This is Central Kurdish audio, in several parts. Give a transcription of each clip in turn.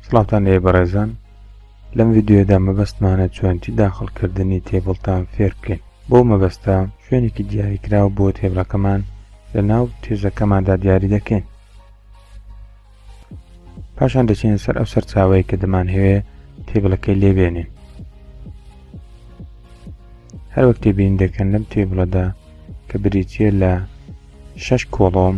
سڵاتان لێ بەڕێزان لەم ڤیددیودا مەبەستمانە چۆنتی داخڵکردنی تێبڵتان فێر بکەین بۆ مەبەستە شوێنێکی دیاریکراو بۆ تێبڵەکەمان لە ناو تێژەکەماندا دیاری دەکەین پاشان دەچین سەر ئەو سەرچاوەیە کە دەمان هەوێ تێبڵەکەی لێبێنین هەروەک تێبین دەکەن لەم تێبڵەدا کە بریتە لە شەش کۆڵۆم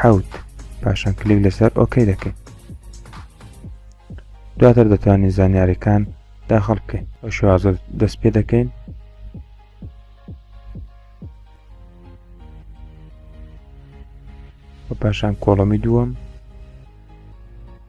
حوت پاشان کلیک لەسەر ئۆکەی دەکەین دواتر دەتوانین زانیاریەکان داخڵ بکەین بە شوازە دەست پێ دەکەین بە پاشان کۆڵەمی دووەم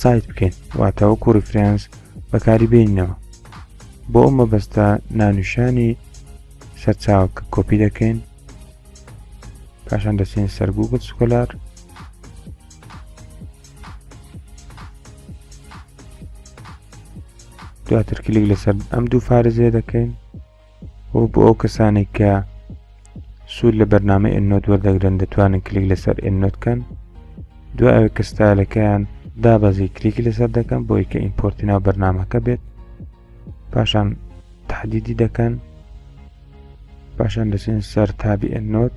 سایت بکەین واتاوەکو ریفرانس بەکاری بینەوە بۆ ئەو مەبەستە نانوشانی سەرچاو کە کۆپی دەکەین پاشان دەچین سەر گوگل سکۆلار دواتر کلیک لەسەر ئەم دوو فارزیە دەکەین و بۆ ئەو کەسانێک کە سوود لە بەرنامە ئەنۆت وەردەگرن دەتوانن کلیک لەسەر ئەنۆت کەن دوای ئەوەی کە ستایلەکەیان دابەزی کلیکی لەسەر دەکەن بۆی کە ئیمپۆرتی ناو بەرنمەکە بێت پاشان تحدیدی دەکەن پاشان دەچێن سەر تابی ئەنۆت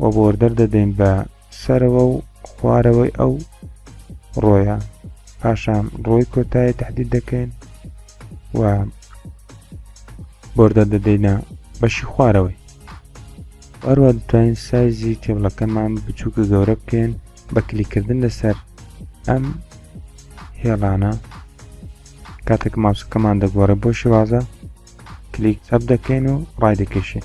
و بۆردەر دەدەین بە سەرەوە و خوارەوەی ئەو ڕۆیە پاشان ڕۆی کۆتایی تهدید دەکەین و بۆردە دەدەینە بەشی خوارەوەی ئەروە دەتوانین سایزی تێبڵەکەمان بچووکە گەورە بکەین بە کلیکردن لەسەر ئەم هێڵانە کاتێک ماوسەکەمان دەگۆڕێ بۆ شێوازە کلیک چەپ دەکەین و ڕای دەکەشین